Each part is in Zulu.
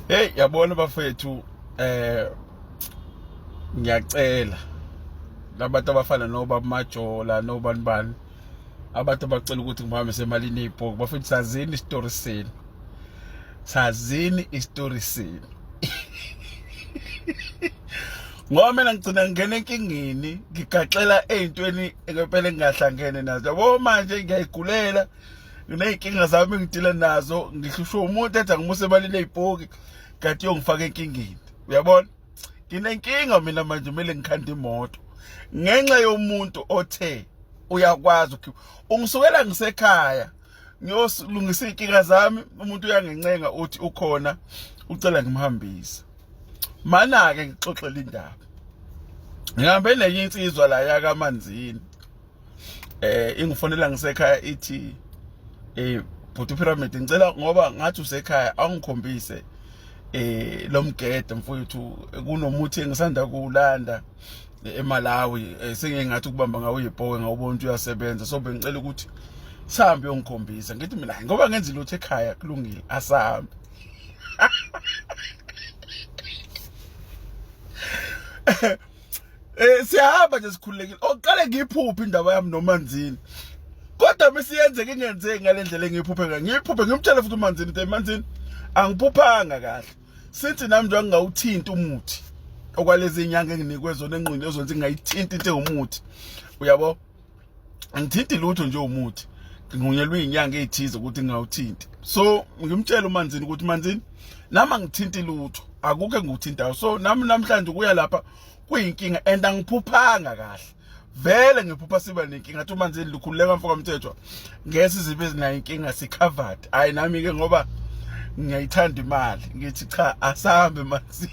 Hey yabona bafethu eh ngiyacela labantu abafana noba majola nobani bani abantu abacela ukuthi ngihambe semalini ibhoki bafethu sazini isitori senu sazini isitori senu ngoba mina ngigcina ngingena enkingeni ngigaxela ey'ntweni ngempela engingahlangene nazo yabo manje ngiyayigulela nginey'nkinga zami engidila nazo ngihlushwe umuntu ethi angimuse emalini eyipoki kanti yongifaka enkingeni uyabona nginenkinga mina manje kumele ngikhande imoto ngenxa yomuntu othe uyakwazi ukhipha ungisukela ngisekhaya ngiyosilungisa iy'nkinga zami umuntu uyangincenga uthi ukhona ucela ngimhambise mana-ke ngixoxele indaba ngihambe nenye insizwa la yakamanzini eh ingifonela ngisekhaya ithi eh bhuti pyramid ngicela ngoba ngathi usekhaya awungikhombise eh lomgede mfowethu kunomuthi engisanda kuwulanda eMalawi eh, sengingathi ukubamba ngawo ipoke ngawubona ukuthi uyasebenza so bengicela ukuthi sihambe uyongikhombisa ngithi mina ngoba ngenza lutho ekhaya kulungile asahambe Eh siyahamba nje sikhululekile. Oqale ngiphuphe indaba yami noManzini. Kodwa mesiyenzeke ingenzeki ngalendlela engiphuphe ngayo. Ngiphuphe ngimtshela futhi uManzini ukuthi Manzini angiphuphanga kahle. Sithi nami nje ngingawuthinta umuthi okwalezi nyanga enginikwe zona enqini ezonzi ngayithinta into engomuthi. Uyabo? angithinti lutho nje umuthi ngihunyelwe izinyanga ezithize ukuthi ngawuthinti so ngimtshela umanzini ukuthi manzini nami angithinti lutho akukho engikuthintayo so nami namhlanje kuya lapha kuyinkinga and angiphuphanga kahle vele ngiphupha siba nenkinga athi umanzini lukhululeka mfoka mthethwa ngesi zibe ezinayo inkinga sicovered hayi nami ke ngoba ngiyayithanda imali ngithi cha asambe manzini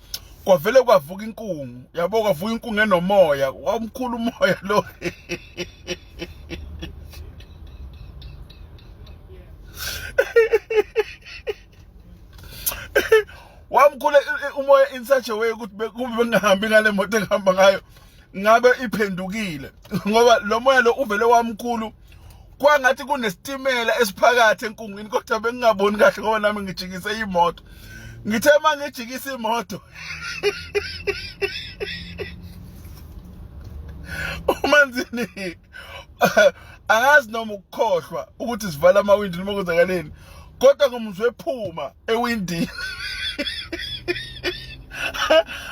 kwavele kwavuka inkungu yabo kwavuka inkungu enomoya wamkhulu umoya lo wamkhule umoya in such a way ukuthi kube bengahambi ngale moto engihamba ngayo ngabe iphendukile ngoba lo moya lo uvele wamkhulu kwangathi kunesitimela esiphakathi enkungwini kodwa bengingaboni kahle ngoba nami ngijikise imoto ngithe uma ngijikisa imoto umanzini angazi noma ukukhohlwa ukuthi sivala amawindi noma kwenzakaleni kodwa ngomuzwe ephuma ewindini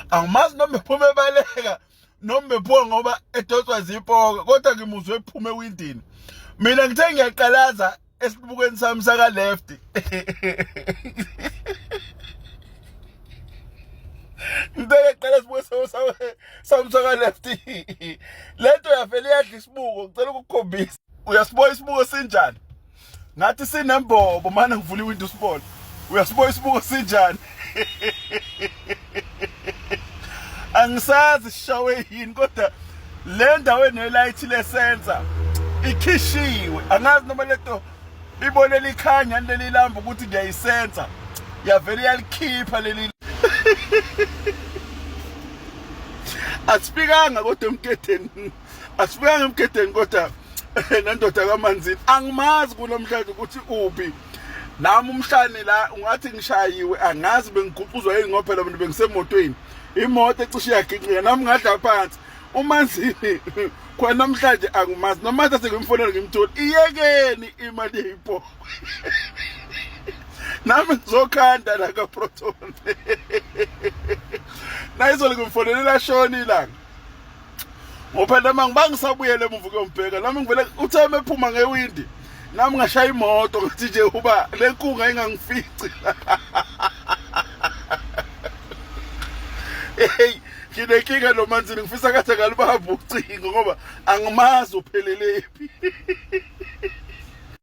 angimazi noma ephuma ebaleka noma bephuka ngoba edoswa zipoka kodwa ngimuzwe ephume ewindini mina ngithe ngiyaqalaza esibukweni sami saka left ngibeke qala sibuke samsaka left lento yavele yadla isibuko ngicela ukukhombisa uyasibuka isibuko sinjani ngathi sinembobo manje ngivula iwindow sibone uyasibuka isibuko sinjani angisazi sishawe yini kodwa le ndawo enelayithi lesensa ikhishiwe angazi noma lento ibone likhanya leli lamba ukuthi ngiyayisensa yavele yalikhipha leli asifikanga kodwa emketheni asifuyanga emgedeni kodwa nendoda kamanzini angimazi kunamhlanje ukuthi uphi nami umhlane la ungathi ngishayiwe angazi bengiguquzwa yini ngoba phela abantu bengisemotweni imoto ecishe yaginqika nami ngadla phansi umanzini khona namhlanje angimazi noma thathe ngimfonela ngimthola iyekeni imali yeyipoko nami ngizokhanda la kaproton nayizolo ngimfonele lashona ilanga ngophela manje bangisabuyele emuva kuyombheka nami ngivele uthe mephuma ngewindi nami ngashaya imoto ngathi nje uba le nkunga ingangifici hey nginenkinga lo manzini ngifisa kathi angalibamba ucingo ngoba angimazi uphelele phi